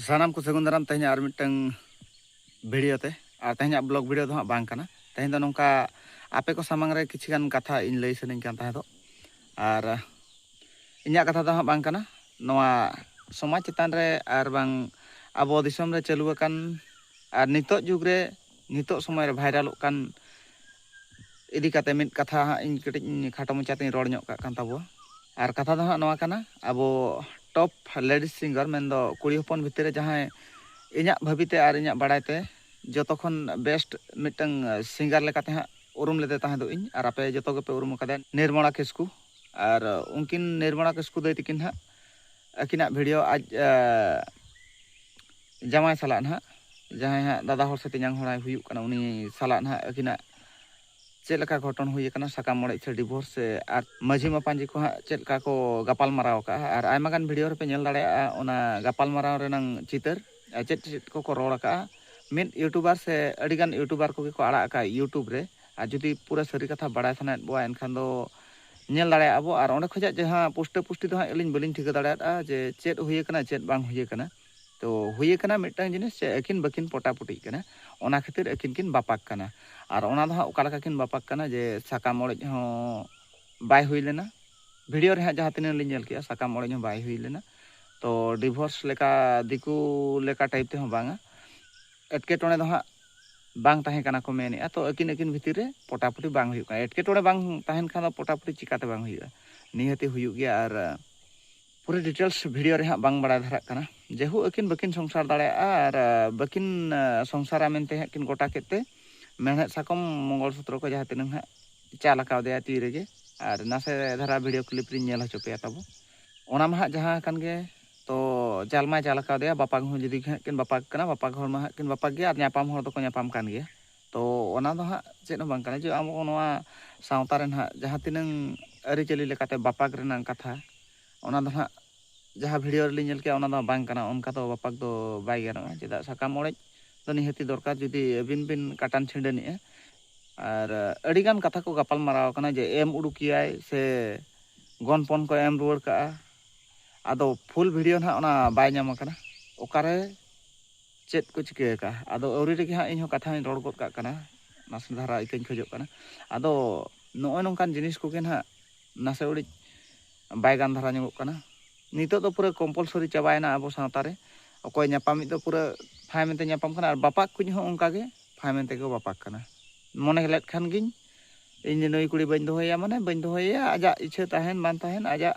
ᱥᱟᱱᱟᱢ ᱠᱚ ᱥᱟᱹᱜᱩᱱ ᱫᱟᱨᱟᱢ ᱛᱮᱦᱮᱧ ᱟᱨ ᱢᱤᱫᱴᱟᱝ ᱵᱷᱤᱰᱤᱭᱳ ᱛᱮ ᱟᱨ ᱛᱮᱦᱮᱧᱟᱜ ᱵᱞᱚᱜ ᱵᱷᱤᱰᱤᱭᱳ ᱫᱚ ᱦᱟᱸᱜ ᱵᱟᱝ ᱠᱟᱱᱟ ᱛᱮᱦᱮᱧ ᱫᱚ ᱱᱚᱝᱠᱟ ᱟᱯᱮ ᱠᱚ ᱥᱟᱢᱟᱝ ᱨᱮ ᱠᱤᱪᱷᱩ ᱜᱟᱱ ᱠᱟᱛᱷᱟ ᱤᱧ ᱞᱟᱹᱭ ᱥᱟᱱᱟᱧ ᱠᱟᱱ ᱛᱟᱦᱮᱸ ᱫᱚ ᱟᱨ ᱤᱧᱟᱹᱜ ᱠᱟᱛᱷᱟ ᱫᱚ ᱦᱟᱸᱜ ᱵᱟᱝ ᱠᱟᱱᱟ ᱱᱚᱣᱟ ᱥᱚᱢᱟᱡᱽ ᱪᱮᱛᱟᱱ ᱨᱮ ᱟᱨ ᱵᱟᱝ ᱟᱵᱚ ᱫᱤᱥᱚᱢ ᱨᱮ ᱪᱟᱹᱞᱩ ᱟᱠᱟᱱ ᱟᱨ ᱱᱤᱛᱚᱜ ᱡᱩᱜᱽ ᱨᱮ ᱱᱤᱛᱚᱜ ᱥᱚᱢᱚᱭ ᱨᱮ ᱵᱷᱟᱭᱨᱟᱞᱚᱜ ᱠᱟᱱ ᱤᱫᱤ ᱠᱟᱛᱮ ᱢᱤᱫ ᱠᱟᱛᱷᱟ ᱦᱟᱸᱜ ᱤᱧ ᱠᱟᱹᱴᱤᱡ ᱤᱧ ᱠᱷᱟᱴᱚ ᱢᱚᱪᱟ ᱛᱮᱧ ᱨᱚᱲ ᱧᱚᱜ ᱠᱟᱜ ᱠᱟᱱ ᱛᱟᱵᱚᱣᱟ ᱟᱨ ᱠᱟᱛᱷᱟ ᱫᱚ ᱦᱟᱸᱜ ᱱᱚᱣᱟ ᱠᱟᱱᱟ ᱟᱵᱚ ᱴᱚᱯ ᱞᱮᱰᱤᱥ ᱥᱤᱝᱜᱟᱨ ᱢᱮᱱᱫᱚ ᱠᱩᱲᱤ ᱦᱚᱯᱚᱱ ᱵᱷᱤᱛᱤᱨ ᱨᱮ ᱡᱟᱦᱟᱸᱭ ᱤᱧᱟᱹᱜ ᱵᱷᱟᱹᱵᱤᱛᱮ ᱟᱨ ᱤᱧᱟᱹᱜ ᱵᱟᱲᱟᱭ ᱛᱮ ᱡᱚᱛᱚ ᱠᱷᱚᱱ ᱵᱮᱥᱴ ᱢᱤᱫᱴᱟᱝ ᱥᱤᱝᱜᱟᱨ ᱞᱮᱠᱟᱛᱮ ᱦᱟᱸᱜ ᱩᱨᱩᱢ ᱞᱮᱫᱮ ᱛᱟᱦᱮᱸ ᱫᱚ ᱤᱧ ᱟᱨ ᱟᱯᱮ ᱡᱚᱛᱚ ᱜᱮᱯᱮ ᱩᱨᱩᱢ ᱟᱠᱟᱫᱮᱭᱟ ᱱᱤᱨᱢᱚᱞᱟ ᱠᱤᱥᱠᱩ ᱟᱨ ᱩᱱᱠᱤᱱ ᱱᱤᱨᱢᱚᱞᱟ ᱠᱤᱥᱠᱩ ᱫᱟᱹᱭ ᱛᱟᱹᱠᱤᱱ ᱦᱟᱸᱜ ᱟᱹᱠᱤᱱᱟᱜ ᱵᱷᱤᱰᱤᱭᱳ ᱟᱡ ᱡᱟᱶᱟᱭ ᱥᱟᱞᱟᱜ ᱱᱟᱦᱟᱜ ᱡᱟᱦᱟᱸᱭ ᱦᱟᱸᱜ ᱫᱟᱫᱟ ᱦᱚᱲ ᱥᱮ ᱛᱮᱧᱟᱝ ᱦᱚᱲᱟᱭ ᱦᱩᱭᱩᱜ ᱠᱟᱱᱟ ᱩᱱᱤ ᱥᱟᱞᱟᱜ ᱱᱟᱦᱟᱜ ᱟᱹᱠᱤᱱᱟᱜ ᱪᱮᱫ ᱞᱮᱠᱟ ᱜᱷᱚᱴᱚᱱ ᱦᱩᱭ ᱟᱠᱟᱱᱟ ᱥᱟᱠᱟᱢ ᱚᱲᱮᱡ ᱥᱮ ᱰᱤᱵᱷᱳᱨᱥ ᱥᱮ ᱟᱨ ᱢᱟᱹᱡᱷᱤ ᱢᱟᱯᱟᱧᱡᱤ ᱠᱚ ᱦᱟᱸᱜ ᱪᱮᱫ ᱞᱮᱠᱟ ᱠᱚ ᱜᱟᱯᱟᱞ ᱢᱟᱨᱟᱣ ᱟᱠᱟᱜᱼᱟ ᱟᱨ ᱟᱭᱢᱟ ᱜᱟᱱ ᱵᱷᱤᱰᱤᱭᱳ ᱨᱮᱯᱮ ᱧᱮᱞ ᱫᱟᱲᱮᱭᱟᱜᱼᱟ ᱚᱱᱟ ᱜᱟᱯᱟᱞ ᱢᱟᱨᱟᱣ ᱨᱮᱱᱟᱝ ᱪᱤᱛᱟᱹᱨ ᱪᱮᱫ ᱪᱮᱫ ᱠᱚᱠᱚ ᱨᱚᱲ ᱟᱠᱟᱜᱼᱟ ᱢᱤᱫ ᱤᱭᱩᱴᱩᱵᱟᱨ ᱥᱮ ᱟᱹᱰᱤ ᱜᱟᱱ ᱤᱭᱩᱴᱩᱵᱟᱨ ᱠᱚᱜᱮ ᱠᱚ ᱟᱲᱟᱜ ᱟᱠᱟᱜᱼᱟ ᱤᱭᱩᱴᱩᱵᱽ ᱨᱮ ᱟᱨ ᱡᱩᱫᱤ ᱯᱩᱨᱟᱹ ᱥᱟᱹᱨᱤ ᱠᱟᱛᱷᱟ ᱵᱟᱲᱟᱭ ᱥᱟᱱᱟᱭᱮᱫ ᱵᱚᱣᱟ ᱮᱱᱠᱷᱟᱱ ᱫᱚ ᱧᱮᱞ ᱫᱟᱲᱮᱭᱟᱜᱼᱟ ᱵᱚ ᱟᱨ ᱚᱸᱰᱮ ᱠᱷᱚᱱᱟᱜ ᱡᱟᱦᱟᱸ ᱯᱩᱥᱴᱟᱹ ᱯᱩᱥᱴᱤ ᱫᱚ ᱦᱟᱸᱜ ᱟᱹᱞᱤᱧ ᱵᱟᱹᱞᱤᱧ ᱴᱷᱤᱠᱟᱹ ᱫᱟᱲᱮᱭᱟᱫᱼᱟ ᱡᱮ ᱪᱮᱫ ᱦᱩᱭ ᱟᱠᱟᱱᱟ ᱪᱮᱫ ᱵᱟᱝ ᱦᱩᱭ ᱟᱠᱟᱱᱟ ᱛᱚ ᱦᱩᱭ ᱟᱠᱟᱱᱟ ᱢᱤᱫᱴᱟᱝ ᱡᱤᱱᱤᱥ ᱪᱮᱫ ᱟᱹᱠᱤᱱ ᱵᱟᱹᱠᱤᱱ ᱯᱚᱴᱟᱯᱩᱴᱤᱜ ᱠᱟᱱᱟ ᱚᱱᱟ ᱠᱷᱟᱹᱛᱤᱨ ᱟᱹᱠᱤᱱ ᱠᱤᱱ ᱵᱟᱯᱟᱜ ᱠᱟᱱᱟ ᱟᱨ ᱚᱱᱟ ᱫᱚ ᱦᱟᱸᱜ ᱚᱠᱟ ᱞᱮᱠᱟ ᱠᱤᱱ ᱵᱟᱯᱟᱜ ᱠᱟᱱᱟ ᱡᱮ ᱥᱟᱠᱟᱢ ᱚᱲᱮᱡ ᱦᱚᱸ ᱵᱟᱭ ᱦᱩᱭ ᱞᱮᱱᱟ ᱵᱷᱤᱰᱤᱭᱳ ᱨᱮ ᱦᱟᱸᱜ ᱡᱟᱦᱟᱸ ᱛᱤᱱᱟᱹᱜ ᱞᱤᱧ ᱧᱮᱞ ᱠᱮᱜᱼᱟ ᱥᱟᱠᱟᱢ ᱚᱲᱮᱡ ᱦᱚᱸ ᱵᱟᱭ ᱦᱩᱭ ᱞᱮᱱᱟ ᱛᱚ ᱰᱤᱵᱷᱳᱨᱥ ᱞᱮᱠᱟ ᱫᱤᱠᱩ ᱞᱮᱠᱟ ᱴᱟᱭᱤᱯ ᱛᱮᱦᱚᱸ ᱵᱟᱝᱟ ᱮᱴᱠᱮᱴᱚᱬᱮ ᱫᱚ ᱦᱟᱸᱜ ᱵᱟᱝ ᱛᱟᱦᱮᱸ ᱠᱟᱱᱟ ᱠᱚ ᱢᱮᱱᱮᱫᱼᱟ ᱛᱚ ᱟᱹᱠᱤᱱ ᱟᱹᱠᱤᱱ ᱵᱷᱤᱛᱤᱨ ᱨᱮ ᱯᱚᱴᱟᱯᱚᱴᱤ ᱵᱟᱝ ᱦᱩᱭᱩᱜ ᱠᱟᱱᱟ ᱮᱴᱠᱮᱴᱚᱬᱮ ᱵᱟᱝ ᱛᱟᱦᱮᱱ ᱠᱷᱟᱱ ᱫᱚ ᱯᱚᱴᱟᱯᱚᱴᱤ ᱪᱤᱠᱟᱹᱛᱮ ᱵᱟᱝ ᱦᱩᱭᱩᱜᱼᱟ ᱱᱤᱦᱟᱹᱛᱤ ᱦᱩᱭᱩᱜ ᱜᱮᱭᱟ ᱟᱨ ᱯᱩᱨᱟᱹ ᱰᱤᱴᱮᱞᱥ ᱵᱷᱤᱰᱤᱭᱳ ᱨᱮ ᱦᱟᱸᱜ ᱵᱟᱝ ᱵᱟᱲᱟᱭ ᱫᱷᱟᱨᱟᱜ ᱠᱟᱱᱟ ᱡᱮᱦᱩ ᱟᱹᱠᱤᱱ ᱵᱟᱹᱠᱤᱱ ᱥᱚᱝᱥᱟᱨ ᱫᱟᱲᱮᱭᱟᱜᱼᱟ ᱟᱨ ᱵᱟᱹᱠᱤᱱ ᱥᱚᱝᱥᱟᱨᱟ ᱢᱮᱱᱛᱮ ᱦᱟᱸᱜ ᱠᱤᱱ ᱜᱚᱴᱟ ᱠᱮᱫ ᱛᱮ ᱢᱮᱬᱦᱮᱫ ᱥᱟᱠᱚᱢ ᱢᱚᱝᱜᱚᱞ ᱥᱩᱛᱨᱚ ᱠᱚ ᱡᱟᱦᱟᱸ ᱛᱤᱱᱟᱹᱝ ᱦᱟᱸᱜ ᱪᱟᱞ ᱟᱠᱟᱣᱫᱮᱭᱟ ᱛᱤ ᱨᱮᱜᱮ ᱟᱨ ᱱᱟᱥᱮ ᱫᱷᱟᱨᱟ ᱵᱷᱤᱰᱤᱭᱳ ᱠᱞᱤᱯ ᱨᱤᱧ ᱧᱮᱞ ᱦᱚᱪᱚ ᱯᱮᱭᱟ ᱛᱟᱵᱚ ᱚᱱᱟ ᱢᱟ ᱦᱟᱸᱜ ᱡᱟᱦᱟᱸ ᱟᱠᱟᱱ ᱜᱮ ᱛᱚ ᱪᱟᱞ ᱢᱟᱭ ᱪᱟᱞ ᱟᱠᱟᱫᱮᱭᱟ ᱵᱟᱯᱟᱜᱽ ᱦᱚᱸ ᱡᱩᱫᱤ ᱦᱟᱸᱜ ᱠᱤᱱ ᱵᱟᱯᱟᱜᱽ ᱠᱟᱱᱟ ᱵᱟᱯᱟᱜᱽ ᱦᱚᱲ ᱢᱟ ᱦᱟᱸᱜ ᱠᱤᱱ ᱵᱟᱯᱟᱜᱽ ᱜᱮᱭᱟ ᱟᱨ ᱧᱟᱯᱟᱢ ᱦᱚᱲ ᱫᱚᱠᱚ ᱧᱟᱯᱟᱢ ᱠᱟᱱ ᱜᱮᱭᱟ ᱛᱚ ᱚᱱᱟ ᱫᱚ ᱦᱟᱸᱜ ᱪᱮᱫ ᱦᱚᱸ ᱵᱟᱝ ᱠᱟᱱᱟ ᱡᱮ ᱟᱵᱚ ᱱᱚᱣᱟ ᱥᱟᱶᱛᱟ ᱨᱮ ᱦᱟᱸᱜ ᱡᱟᱦᱟᱸ ᱛᱤᱱᱟᱹᱝ ᱟᱹᱨᱤᱪᱟᱹᱞᱤ ᱞᱮᱠᱟᱛᱮ ᱵᱟᱯᱟᱜᱽ ᱨᱮᱱᱟᱜ ᱠᱟᱛᱷᱟ ᱚᱱᱟ ᱫᱚ ᱦᱟᱸᱜ ᱡᱟᱦᱟᱸ ᱵᱷᱤᱰᱤᱭᱳ ᱨᱮᱞᱤᱧ ᱧᱮᱞ ᱠᱮᱜᱼᱟ ᱚᱱᱟ ᱫᱚ ᱵᱟᱝ ᱠᱟᱱᱟ ᱚᱱᱠᱟ ᱫᱚ ᱵᱟᱯᱟᱜᱽ ᱫᱚ ᱵᱟᱭ ᱜᱟᱱᱚᱜᱼᱟ ᱪᱮᱫᱟᱜ ᱥᱟᱠᱟᱢ ᱚᱲᱮᱡ ᱫᱚ ᱱᱤᱦᱟᱹᱛᱤ ᱫᱚᱨᱠᱟᱨ ᱡᱩᱫᱤ ᱟᱹᱵᱤᱱ ᱵᱤᱱ ᱠᱟᱴᱟᱱ ᱪᱷᱤᱸᱰᱟᱹᱱᱮᱜᱼᱟ ᱟᱨ ᱟᱹᱰᱤ ᱜᱟᱱ ᱠᱟᱛᱷᱟ ᱠᱚ ᱜᱟᱯᱟᱞ ᱢᱟᱨᱟᱣ ᱟᱠᱟᱱᱟ ᱡᱮ ᱮᱢ ᱩᱰᱩᱠᱮᱭᱟᱭ ᱥᱮ ᱜᱚᱱᱯᱚᱱ ᱠᱚ ᱮᱢ ᱨᱩᱣᱟᱹᱲ ᱠᱟᱜᱼᱟ ᱟᱫᱚ ᱯᱷᱩᱞ ᱵᱷᱤᱰᱤᱭᱳ ᱱᱟᱦᱟᱜ ᱚᱱᱟ ᱵᱟᱭ ᱧᱟᱢ ᱟᱠᱟᱱᱟ ᱚᱠᱟᱨᱮ ᱪᱮᱫ ᱠᱚ ᱪᱤᱠᱟᱹ ᱟᱠᱟᱜᱼᱟ ᱟᱫᱚ ᱟᱹᱣᱨᱤ ᱨᱮᱜᱮ ᱦᱟᱸᱜ ᱤᱧᱦᱚᱸ ᱠᱟᱛᱷᱟᱧ ᱨᱚᱲ ᱜᱚᱫ ᱠᱟᱜ ᱠᱟᱱᱟ ᱱᱟᱥᱮ ᱫᱷᱟᱨᱟ ᱤᱠᱟᱹᱧ ᱠᱷᱚᱡᱚᱜ ᱠᱟᱱᱟ ᱟᱫᱚ ᱱᱚᱜᱼᱚᱭ ᱱᱚᱝᱠᱟᱱ ᱡᱤᱱᱤᱥ ᱠᱚᱜᱮ ᱱᱟᱦᱟᱜ ᱱᱟᱥᱮ ᱩᱲᱤᱡ ᱵᱟᱭ ᱜᱟᱱ ᱫᱷᱟᱨᱟ ᱧᱚᱜᱚᱜ ᱠᱟᱱᱟ ᱱᱤᱛᱚᱜ ᱫᱚ ᱯᱩᱨᱟᱹ ᱠᱚᱢᱯᱚᱞᱥᱚᱨᱤ ᱪᱟᱵᱟᱭᱮᱱᱟ ᱟᱵᱚ ᱥᱟᱶᱛᱟ ᱨᱮ ᱚᱠᱚᱭ ᱧᱟᱯᱟᱢᱤᱡ ᱫᱚ ᱯᱩᱨᱟᱹ ᱯᱷᱟᱭ ᱢᱮᱱᱛᱮ ᱧᱟᱯᱟᱢ ᱠᱟᱱᱟ ᱟᱨ ᱵᱟᱯᱟᱠ ᱠᱩᱡ ᱦᱚᱸ ᱚᱱᱠᱟ ᱜᱮ ᱯᱷᱟᱭ ᱢᱮᱱᱛᱮ ᱠᱚ ᱵᱟᱯᱟᱠ ᱠᱟᱱᱟ ᱢᱚᱱᱮ ᱞᱮᱫ ᱠᱷᱟᱱ ᱜᱤᱧ ᱤᱧ ᱱᱩᱭ ᱠᱩᱲᱤ ᱵᱟᱹᱧ ᱫᱚᱦᱚᱭᱮᱭᱟ ᱢᱟᱱᱮ ᱵᱟᱹᱧ ᱫᱚᱦᱚᱭᱮᱭᱟ ᱟᱡᱟᱜ ᱤᱪᱪᱷᱟᱹ ᱛᱟᱦᱮᱱ ᱵᱟᱝ ᱛᱟᱦᱮᱱ ᱟᱡᱟᱜ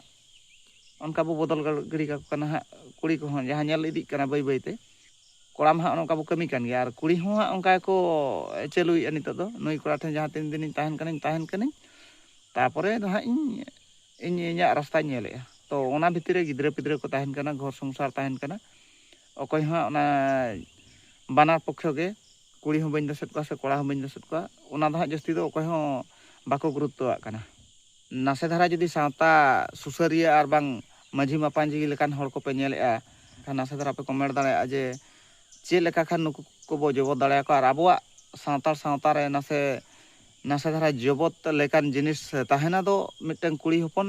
ᱚᱱᱠᱟ ᱵᱚ ᱵᱚᱫᱚᱞ ᱜᱤᱰᱤ ᱠᱟᱠᱚ ᱠᱟᱱᱟ ᱦᱟᱸᱜ ᱠᱩᱲᱤ ᱠᱚᱦᱚᱸ ᱡᱟᱦᱟᱸ ᱧᱮᱞ ᱤᱫᱤᱜ ᱠᱟᱱᱟ ᱵᱟᱹᱭ ᱵᱟᱹᱭᱛᱮ ᱠᱚᱲᱟ ᱢᱟ ᱦᱟᱸᱜ ᱚᱱᱠᱟ ᱵᱚ ᱠᱟᱹᱢᱤ ᱠᱟᱱ ᱜᱮᱭᱟ ᱟᱨ ᱠᱩᱲᱤ ᱦᱚᱸ ᱦᱟᱸᱜ ᱚᱱᱠᱟ ᱜᱮᱠᱚ ᱪᱟᱹᱞᱩᱭᱮᱫᱼᱟ ᱱᱤᱛᱚᱜ ᱫᱚ ᱱᱩᱭ ᱠᱚᱲᱟ ᱴᱷᱮᱱ ᱡᱟᱦᱟᱸ ᱛᱤᱱ ᱫᱤᱱᱤᱧ ᱛᱟᱦᱮᱱ ᱠᱟᱹᱱᱟᱹᱧ ᱛᱟᱦᱮᱱ ᱠᱟᱹᱱᱟᱹᱧ ᱛᱟᱨᱯᱚᱨᱮ ᱫᱚ ᱦᱟᱸᱜ ᱤᱧ ᱤᱧ ᱤᱧᱟᱹᱜ ᱨᱟᱥᱛᱟᱧ ᱧᱮᱞᱮᱫᱼᱟ ᱛᱚ ᱚᱱᱟ ᱵᱷᱤᱛᱤᱨ ᱨᱮ ᱜᱤᱫᱽᱨᱟᱹ ᱯᱤᱫᱽᱨᱟᱹ ᱠᱚ ᱛᱟᱦᱮᱱ ᱠᱟᱱᱟ ᱜᱷᱚᱨ ᱥᱚᱝᱥᱟᱨ ᱛᱟᱦᱮᱱ ᱠᱟᱱᱟ ᱚᱠᱚᱭ ᱦᱚᱸ ᱚᱱᱟ ᱵᱟᱱᱟᱨ ᱯᱚᱠᱠᱷᱚ ᱜᱮ ᱠᱩᱲᱤ ᱦᱚᱸ ᱵᱟᱹᱧ ᱫᱳᱥᱮᱫ ᱠᱚᱣᱟ ᱥᱮ ᱠᱚᱲᱟ ᱦᱚᱸ ᱵᱟᱹᱧ ᱫᱳᱥᱮᱫ ᱠᱚᱣᱟ ᱚᱱᱟ ᱫᱚ ᱦᱟᱸᱜ ᱡᱟᱹᱥᱛᱤ ᱫᱚ ᱚᱠᱚᱭ ᱦᱚᱸ ᱵᱟᱠᱚ ᱜᱩᱨᱩᱛᱛᱚᱣᱟᱜ ᱠᱟᱱᱟ ᱱᱟᱥᱮ ᱫᱷᱟᱨᱟ ᱡᱩᱫᱤ ᱥᱟᱶᱛᱟ ᱥᱩᱥᱟᱹᱨᱤᱭᱟᱹ ᱟᱨ ᱵᱟᱝ ᱢᱟᱹᱡᱷᱤ ᱢᱟᱯᱟᱸᱡᱷᱤ ᱞᱮᱠᱟᱱ ᱦᱚᱲ ᱠᱚᱯᱮ ᱧᱮᱞᱮᱫᱼᱟ ᱮᱱᱠᱷᱟᱱ ᱱᱟᱥᱮ ᱫᱷᱟᱨᱟ ᱯᱮ ᱠᱚᱢᱮᱱᱴ ᱫᱟᱲᱮᱭᱟᱜᱼᱟ ᱡᱮ ᱪᱮᱫ ᱞᱮᱠᱟ ᱠᱷᱟᱱ ᱱᱩᱠᱩ ᱠᱚᱵᱚ ᱡᱚᱵᱚᱫ ᱫᱟᱲᱮᱭᱟᱠᱚᱣᱟ ᱟᱨ ᱟᱵᱚᱣᱟᱜ ᱥᱟᱶᱛᱟᱲ ᱥᱟᱶᱛᱟ ᱨᱮ ᱱᱟᱥᱮ ᱱᱟᱥᱮ ᱫᱷᱟᱨᱟ ᱡᱚᱵᱚᱫ ᱞᱮᱠᱟᱱ ᱡᱤᱱᱤᱥ ᱛᱟᱦᱮᱱᱟ ᱫᱚ ᱢᱤᱫᱴᱟᱹᱝ ᱠᱩᱲᱤ ᱦᱚᱯᱚᱱ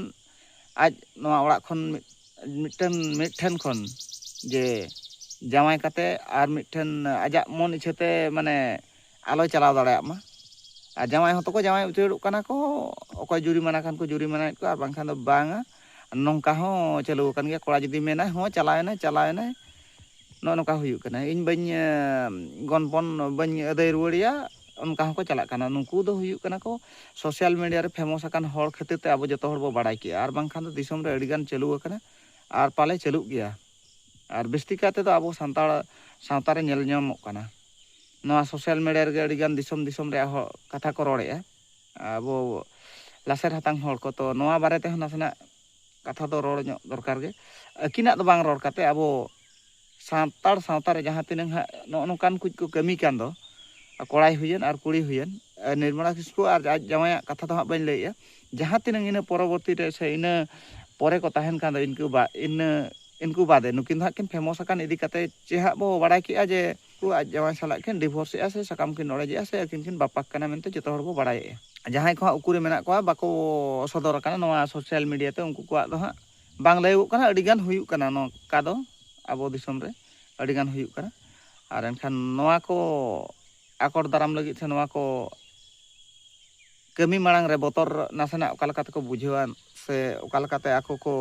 ᱟᱡ ᱱᱚᱣᱟ ᱚᱲᱟᱜ ᱠᱷᱚᱱ ᱢᱤᱫᱴᱟᱹᱝ ᱢᱤᱫ ᱴᱷᱮᱱ ᱠᱷᱚᱱ ᱡᱮ ᱡᱟᱶᱟᱭ ᱠᱟᱛᱮ ᱟᱨ ᱢᱤᱫ ᱴᱷᱮᱱ ᱟᱡᱟᱜ ᱢᱚᱱ ᱤᱪᱪᱷᱟᱹ ᱛᱮ ᱢᱟᱱᱮ ᱟᱞᱚᱭ ᱪᱟᱞᱟᱣ ᱫᱟᱲᱮᱭᱟᱜ ᱢᱟ ᱟᱨ ᱡᱟᱶᱟᱭ ᱦᱚᱸᱛᱚ ᱠᱚ ᱡᱟᱶᱟᱭ ᱩᱪᱟᱹᱲᱚᱜ ᱠᱟᱱᱟ ᱠᱚ ᱚᱠᱚᱭ ᱡᱩᱨᱤᱢᱟᱱᱟ ᱠᱷᱟᱱ ᱠᱚ ᱡᱩᱨᱤᱢᱟᱱᱟᱭᱮᱫ ᱠᱚᱣᱟ ᱟᱨ ᱵᱟᱝᱠᱷᱟᱱ ᱫᱚ ᱵᱟᱝᱟ ᱱᱚᱝᱠᱟ ᱦᱚᱸ ᱪᱟᱹᱞᱩ ᱟᱠᱟᱱ ᱜᱮᱭᱟ ᱠᱚᱲᱟ ᱡᱩᱫᱤ ᱢᱮᱱᱟᱭ ᱦᱚᱸ ᱪᱟᱞᱟᱣᱮᱱᱟᱭ ᱪᱟᱞᱟᱣᱮᱱᱟᱭ ᱱᱚᱜᱼᱚ ᱱᱚᱝᱠᱟ ᱦᱩᱭᱩᱜ ᱠᱟᱱᱟ ᱤᱧ ᱵᱟᱹᱧ ᱜᱚᱱᱯᱚᱱ ᱵᱟᱹᱧ ᱟᱹᱫᱟᱹᱭ ᱨᱩᱣᱟᱹᱲᱮᱭᱟ ᱚᱱᱠᱟ ᱦᱚᱸᱠᱚ ᱪᱟᱞᱟᱜ ᱠᱟᱱᱟ ᱱᱩᱠᱩ ᱫᱚ ᱦᱩᱭᱩᱜ ᱠᱟᱱᱟ ᱠᱚ ᱥᱳᱥᱟᱞ ᱢᱤᱰᱤᱭᱟ ᱨᱮ ᱯᱷᱮᱢᱚᱥ ᱟᱠᱟᱱ ᱦᱚᱲ ᱠᱷᱟᱹᱛᱤᱨ ᱛᱮ ᱟᱵᱚ ᱡᱚᱛᱚ ᱦᱚᱲ ᱵᱚ ᱵᱟᱲᱟᱭ ᱠᱮᱜᱼᱟ ᱟᱨ ᱵᱟᱝᱠᱷᱟᱱ ᱫᱚ ᱫᱤᱥᱚᱢ ᱨᱮ ᱟᱹᱰᱤᱜᱟᱱ ᱪᱟᱹᱞᱩ ᱟᱠᱟᱱᱟ ᱟᱨ ᱯᱟᱞᱮ ᱪᱟᱹᱞᱩᱜ ᱜᱮᱭᱟ ᱟᱨ ᱵᱤᱥᱛᱤ ᱠᱟᱭ ᱛᱮᱫᱚ ᱟᱵᱚ ᱥᱟᱱᱛᱟᱲ ᱥᱟᱶᱛᱟ ᱨᱮ ᱧᱮᱞ ᱧᱟᱢᱚᱜ ᱠᱟᱱᱟ ᱱᱚᱣᱟ ᱥᱳᱥᱟᱞ ᱢᱤᱰᱤᱭᱟ ᱨᱮᱜᱮ ᱟᱹᱰᱤ ᱜᱟᱱ ᱫᱤᱥᱚᱢ ᱫᱤᱥᱚᱢ ᱨᱮᱭᱟᱜ ᱦᱚᱲ ᱠᱟᱛᱷᱟ ᱠᱚ ᱨᱚᱲᱮᱜᱼᱟ ᱟᱵᱚ ᱞᱟᱥᱮᱨ ᱦᱟᱛᱟᱝ ᱦᱚᱲ ᱠᱚ ᱛᱚ ᱱᱚᱣᱟ ᱵᱟᱨᱮ ᱛᱮᱦᱚᱸ ᱱᱟᱥᱮᱱᱟᱜ ᱠᱟᱛᱷᱟ ᱫᱚ ᱨᱚᱲ ᱧᱚᱜ ᱫᱚᱨᱠᱟᱨ ᱜᱮ ᱟᱹᱠᱤᱱᱟᱜ ᱫᱚ ᱵᱟᱝ ᱨᱚᱲ ᱠᱟᱛᱮ ᱟᱵᱚ ᱥᱟᱱᱛᱟᱲ ᱥᱟᱶᱛᱟ ᱨᱮ ᱡᱟᱦᱟᱸ ᱛᱤᱱᱟᱹᱝ ᱦᱟᱸᱜ ᱱᱚᱜᱼᱚ ᱱᱚᱝᱠᱟᱱ ᱠᱩᱡ ᱠᱚ ᱠᱟᱹᱢᱤ ᱠᱟᱱ ᱫᱚ ᱠᱚᱲᱟᱭ ᱦᱩᱭᱮᱱ ᱟᱨ ᱠᱩᱲᱤ ᱦᱩᱭᱮᱱ ᱱᱤᱨᱢᱚᱞᱟ ᱠᱤᱥᱠᱩ ᱟᱨ ᱟᱡ ᱡᱟᱶᱟᱭᱟᱜ ᱠᱟᱛᱷᱟ ᱫᱚ ᱦᱟᱸᱜ ᱵᱟᱹᱧ ᱞᱟᱹᱭᱮᱜᱼᱟ ᱡᱟᱦᱟᱸ ᱛᱤᱱᱟᱹᱝ ᱤᱱᱟᱹ ᱯᱚᱨᱚᱵᱚᱨᱛᱤ ᱨᱮ ᱥᱮ ᱤᱱᱟᱹ ᱯᱚᱨᱮ ᱠᱚ ᱛᱟᱦᱮᱱ ᱠᱷᱟᱱ ᱫᱚ ᱤᱱᱠᱟᱹ ᱵᱟ ᱤᱱᱟᱹ ᱤᱱᱠᱩ ᱵᱟᱫᱮ ᱱᱩᱠᱤᱱ ᱫᱚ ᱦᱟᱸᱜ ᱠᱤᱱ ᱯᱷᱮᱢᱚᱥ ᱟᱠᱟᱱ ᱤᱫᱤ ᱠᱟᱛᱮ ᱪᱮ ᱦᱟᱸᱜ ᱵᱚ ᱵᱟᱲᱟᱭ ᱠᱮᱜᱼᱟ ᱡᱮ ᱩᱱᱠᱩ ᱟᱡ ᱡᱟᱶᱟᱭ ᱥᱟᱞᱟᱜ ᱠᱤᱱ ᱰᱤᱵᱷᱳᱨᱥ ᱮᱜᱼᱟ ᱥᱮ ᱥᱟᱠᱟᱢ ᱠᱤᱱ ᱚᱲᱮᱡᱮᱜᱼᱟ ᱥᱮ ᱟᱹᱠᱤᱱ ᱠᱤᱱ ᱵᱟᱯᱟᱠ ᱠᱟᱱᱟ ᱢᱮᱱᱛᱮ ᱡᱚᱛᱚ ᱦᱚᱲ ᱵᱚ ᱵᱟᱲᱟᱭᱮᱜᱼᱟ᱾ ᱡᱟᱦᱟᱸᱭ ᱠᱚ ᱦᱟᱸᱜ ᱩᱠᱩ ᱨᱮ ᱢᱮᱱᱟᱜ ᱠᱚᱣᱟ ᱵᱟᱠᱚ ᱥᱚᱫᱚᱨ ᱟᱠᱟᱱᱟ ᱱᱚᱣᱟ ᱥᱚᱥᱭᱟᱞ ᱢᱤᱰᱤᱭᱟ ᱛᱮ ᱩᱱᱠᱩ ᱠᱚᱣᱟᱜ ᱫᱚ ᱦᱟᱸᱜ ᱵᱟᱝ ᱞᱟᱹᱭᱚᱜᱚᱜ ᱠᱟᱱᱟ ᱟᱹᱰᱤ ᱜᱟᱱ ᱦᱩᱭᱩᱜ ᱠᱟᱱᱟ ᱱᱚᱝᱠᱟ ᱫᱚ ᱟᱵᱚ ᱫᱤᱥᱚᱢ ᱨᱮ ᱟᱹᱰᱤ ᱜᱟᱱ ᱦᱩᱭᱩᱜ ᱠᱟᱱᱟ ᱟᱨ ᱮᱱᱠᱷᱟᱱ ᱱᱚᱣᱟ ᱠᱚ ᱟᱠᱚᱴ ᱫᱟᱨᱟᱢ ᱞᱟᱹᱜᱤᱫ ᱥᱮ ᱱᱚᱣᱟ ᱠᱚ ᱠᱟᱹᱢᱤ ᱢᱟᱲᱟᱝ ᱨᱮ ᱵᱚᱛᱚᱨ ᱱᱟᱥᱮᱱᱟᱜ ᱚᱠᱟ ᱞᱮᱠᱟ ᱛᱮᱠᱚ ᱵᱩᱡᱷᱟᱹᱣᱟ ᱥᱮ ᱚᱠᱟ ᱞᱮᱠᱟᱛᱮ ᱟᱠᱚ ᱠᱚ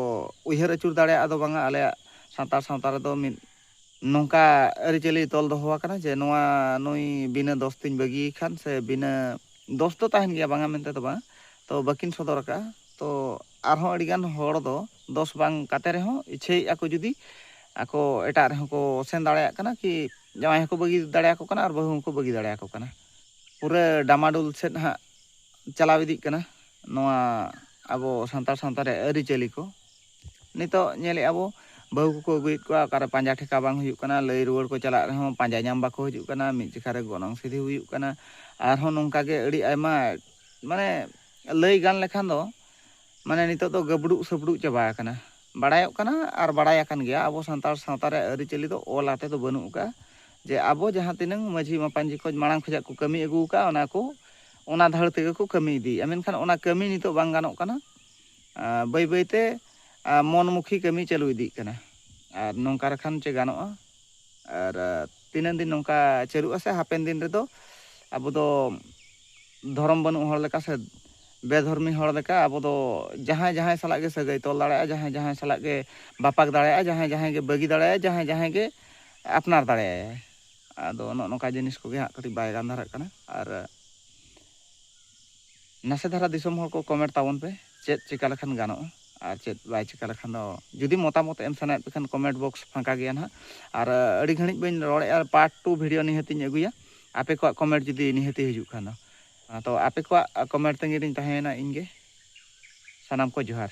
ᱩᱭᱦᱟᱹᱨ ᱟᱹᱪᱩᱨ ᱫᱟᱲᱮᱭᱟᱜᱼᱟ ᱫᱚ ᱵᱟᱝᱟ ᱟᱞᱮᱭᱟᱜ ᱥᱟᱱᱛᱟᱲ ᱥᱟᱶᱛᱟ ᱨᱮᱫᱚ ᱢᱤᱫ ᱱᱚᱝᱠᱟ ᱟᱹᱨᱤᱪᱟᱹᱞᱤ ᱛᱚᱞ ᱫᱚᱦᱚ ᱟᱠᱟᱱᱟ ᱡᱮ ᱱᱚᱣᱟ ᱱᱩᱭ ᱵᱤᱱᱟᱹ ᱫᱚᱥ ᱛᱤᱧ ᱵᱟᱹᱜᱤᱭᱮ ᱠᱷᱟᱱ ᱥᱮ ᱵᱤᱱᱟᱹ ᱫᱚᱥ ᱫᱚ ᱛᱟᱦᱮᱱ ᱜᱮᱭᱟ ᱵᱟᱝᱟ ᱢᱮᱱᱛᱮ ᱫᱚ ᱵᱟᱝ ᱛᱚ ᱵᱟᱹᱠᱤᱱ ᱥᱚᱫᱚᱨ ᱟᱠᱟᱫᱼᱟ ᱛᱚ ᱟᱨᱦᱚᱸ ᱟᱹᱰᱤᱜᱟᱱ ᱦᱚᱲ ᱫᱚ ᱫᱚᱥ ᱵᱟᱝ ᱠᱟᱛᱮ ᱨᱮᱦᱚᱸ ᱤᱪᱪᱷᱟᱹᱭᱮᱫᱼᱟ ᱠᱚ ᱡᱩᱫᱤ ᱟᱠᱚ ᱮᱴᱟᱜ ᱨᱮᱦᱚᱸ ᱠᱚ ᱥᱮᱱ ᱫᱟᱲᱮᱭᱟᱜ ᱠᱟᱱᱟ ᱠᱤ ᱡᱟᱶᱟᱭ ᱦᱚᱸᱠᱚ ᱵᱟᱹᱜᱤ ᱫᱟᱲᱮᱭᱟᱠᱚ ᱠᱟᱱᱟ ᱟᱨ ᱵᱟᱹᱦᱩ ᱦᱚᱸᱠᱚ ᱵᱟᱹᱜᱤ ᱫᱟᱲᱮᱭᱟᱠᱚ ᱠᱟᱱᱟ ᱯᱩᱨᱟᱹ ᱰᱟᱢᱟᱰᱩᱞ ᱥᱮᱫ ᱦᱟᱸᱜ ᱪᱟᱞᱟᱣ ᱤᱫᱤᱜ ᱠᱟᱱᱟ ᱱᱚᱣᱟ ᱟᱵᱚ ᱥᱟᱱᱛᱟᱲ ᱥᱟᱶᱛᱟ ᱨᱮ ᱟᱹᱨᱤᱪᱟᱹᱞᱤ ᱠᱚ ᱱᱤᱛᱚᱜ ᱧᱮᱞᱮᱫᱼᱟ ᱵᱚ ᱵᱟᱹᱦᱩ ᱠᱚᱠᱚ ᱟᱹᱜᱩᱭᱮᱫ ᱠᱚᱣᱟ ᱚᱠᱟᱨᱮ ᱯᱟᱸᱡᱟ ᱴᱷᱮᱠᱟ ᱵᱟᱝ ᱦᱩᱭᱩᱜ ᱠᱟᱱᱟ ᱞᱟᱹᱭ ᱨᱩᱣᱟᱹᱲ ᱠᱚ ᱪᱟᱞᱟᱜ ᱨᱮᱦᱚᱸ ᱯᱟᱸᱡᱟ ᱧᱟᱢ ᱵᱟᱠᱚ ᱦᱤᱡᱩᱜ ᱠᱟᱱᱟ ᱢᱤᱫ ᱡᱮᱠᱷᱟ ᱨᱮ ᱜᱚᱱᱚᱝ ᱥᱤᱫᱷᱤ ᱦᱩᱭᱩᱜ ᱠᱟᱱᱟ ᱟᱨᱦᱚᱸ ᱱᱚᱝᱠᱟ ᱜᱮ ᱟᱹᱰᱤ ᱟᱭᱢᱟ ᱢᱟᱱᱮ ᱞᱟᱹᱭ ᱜᱟᱱ ᱞᱮᱠᱷᱟᱱ ᱫᱚ ᱢᱟᱱᱮ ᱱᱤᱛᱚᱜ ᱫᱚ ᱜᱟᱹᱵᱽᱲᱩᱜ ᱥᱟᱹᱵᱽᱲᱩᱜ ᱪᱟᱵᱟ ᱟᱠᱟᱱᱟ ᱵᱟᱲᱟᱭᱚᱜ ᱠᱟᱱᱟ ᱟᱨ ᱵᱟᱲᱟᱭ ᱟᱠᱟᱱ ᱜᱮᱭᱟ ᱟᱵᱚ ᱥᱟᱱᱛᱟᱲ ᱥᱟᱶᱛᱟ ᱨᱮ ᱟᱹᱨᱤᱪᱟᱹᱞᱤ ᱫᱚ ᱚᱞ ᱟᱛᱮ ᱫᱚ ᱵᱟᱹᱱᱩᱜ ᱟᱠᱟᱫᱼᱟ ᱡᱮ ᱟᱵᱚ ᱡᱟᱦᱟᱸ ᱛᱤᱱᱟᱹᱝ ᱢᱟᱹᱡᱷᱤ ᱢᱟᱯᱟᱧᱡᱤ ᱠᱚ ᱢᱟᱲᱟᱝ ᱠᱷᱚᱱᱟᱜ ᱠᱚ ᱠᱟᱹᱢᱤ ᱟᱹᱜᱩ ᱟᱠᱟᱫᱼᱟ ᱚᱱᱟ ᱠᱚ ᱚᱱᱟ ᱫᱷᱟᱹᱲ ᱛᱮᱜᱮ ᱠᱚ ᱠᱟᱹᱢᱤ ᱤᱫᱤᱭᱮᱫᱼᱟ ᱢᱮᱱᱠᱷᱟᱱ ᱚᱱᱟ ᱠᱟᱹᱢᱤ ᱱᱤᱛᱚᱜ ᱵᱟᱝ ᱜᱟᱱᱚᱜ ᱠᱟᱱᱟ ᱵᱟᱹᱭ ᱵᱟᱹᱭ ᱛᱮ ᱢᱚᱱ ᱢᱩᱠᱷᱤ ᱠᱟᱹᱢᱤ ᱪᱟᱹᱞᱩ ᱤᱫᱤᱜ ᱠᱟᱱᱟ ᱟᱨ ᱱᱚᱝᱠᱟ ᱨᱮᱠᱷᱟᱱ ᱪᱮᱫ ᱜᱟᱱᱚᱜᱼᱟ ᱟᱨ ᱛᱤᱱᱟᱹᱝ ᱫᱤᱱ ᱱᱚᱝᱠᱟ ᱪᱟᱹᱞᱩᱜᱼᱟ ᱥᱮ ᱦᱟᱯᱮᱱ ᱫᱤᱱ ᱨᱮᱫᱚ ᱟᱵᱚ ᱫᱚ ᱫᱷᱚᱨᱚᱢ ᱵᱟᱹᱱᱩᱜ ᱦᱚᱲ ᱞᱮᱠᱟ ᱥᱮ ᱵᱮᱫᱷᱚᱨᱢᱤ ᱦᱚᱲ ᱞᱮᱠᱟ ᱟᱵᱚ ᱫᱚ ᱡᱟᱦᱟᱸᱭ ᱡᱟᱦᱟᱸᱭ ᱥᱟᱞᱟᱜ ᱜᱮ ᱥᱟᱹᱜᱟᱹᱭ ᱛᱚᱞ ᱫᱟᱲᱮᱭᱟᱜᱼᱟ ᱡᱟᱦᱟᱸᱭ ᱡᱟᱦᱟᱸᱭ ᱥᱟᱞᱟᱜ ᱜᱮ ᱵᱟᱯᱟᱠ ᱫᱟᱲᱮᱭᱟᱜᱼᱟ ᱡᱟᱦᱟᱸᱭ ᱡᱟᱦᱟᱸᱭ ᱜᱮ ᱵᱟᱹᱜᱤ ᱫᱟᱲᱮᱭᱟᱜᱼᱟ ᱡᱟᱦᱟᱸᱭ ᱡᱟᱦᱟᱸᱭ ᱜᱮ ᱟᱯᱱᱟᱨ ᱫᱟᱲᱮᱭᱟᱭᱟᱭ ᱟᱫᱚ ᱱᱚᱜᱼᱚ ᱱᱚᱝᱠᱟ ᱡᱤᱱᱤᱥ ᱠᱚᱜᱮ ᱦᱟᱸᱜ ᱠᱟᱹᱴᱤᱡ ᱵᱟᱭ ᱜᱟᱱ ᱫᱷᱟᱨᱟᱜ ᱠᱟᱱᱟ ᱟᱨ ᱱᱟᱥᱮ ᱫᱷᱟᱨᱟ ᱫᱤᱥᱚᱢ ᱦᱚᱲ ᱠᱚ ᱠᱚᱢᱮᱱᱴ ᱛᱟᱵᱚᱱ ᱯᱮ ᱪᱮᱫ ᱪᱤᱠᱟ ᱞᱮᱠᱷᱟᱱ ᱜᱟᱱᱚᱜᱼᱟ ᱟᱨ ᱪᱮᱫ ᱵᱟᱭ ᱪᱤᱠᱟ ᱞᱮᱠᱷᱟᱱ ᱫᱚ ᱡᱩᱫᱤ ᱢᱚᱛᱟᱢᱚᱛ ᱮᱢ ᱥᱟᱱᱟᱭᱮᱫ ᱯᱮ ᱠᱷᱟᱱ ᱠᱚᱢᱮᱱᱴ ᱵᱚᱠᱥ ᱯᱷᱟᱸᱠᱟ ᱜᱮᱭᱟ ᱱᱟᱦᱟᱜ ᱟᱨ ᱟᱹᱰᱤ ᱜᱷᱟᱹᱲᱤᱡ ᱵᱟᱹᱧ ᱨᱚᱲᱮᱫᱼᱟ ᱯᱟᱨᱴ ᱴᱩ ᱵᱷᱤᱰᱤᱭᱳ ᱱᱤᱦᱟᱹᱛᱤᱧ ᱟᱹᱜᱩᱭᱟ ᱟᱯᱮ ᱠᱚᱣᱟᱜ ᱠᱚᱢᱮᱱᱴ ᱡᱩᱫᱤ ᱱᱤᱦᱟᱹᱛᱤ ᱦᱤᱡᱩᱜ ᱠᱷᱟᱱ ᱫᱚ ᱛᱚ ᱟᱯᱮ ᱠᱚᱣᱟᱜ ᱠᱚᱢᱮᱱᱴ ᱛᱟᱺᱜᱤ ᱨᱤᱧ ᱛᱟᱦᱮᱸᱭᱮᱱᱟ ᱤᱧ ᱜᱮ ᱥᱟᱱᱟᱢ ᱠᱚ ᱡᱚᱦᱟᱨ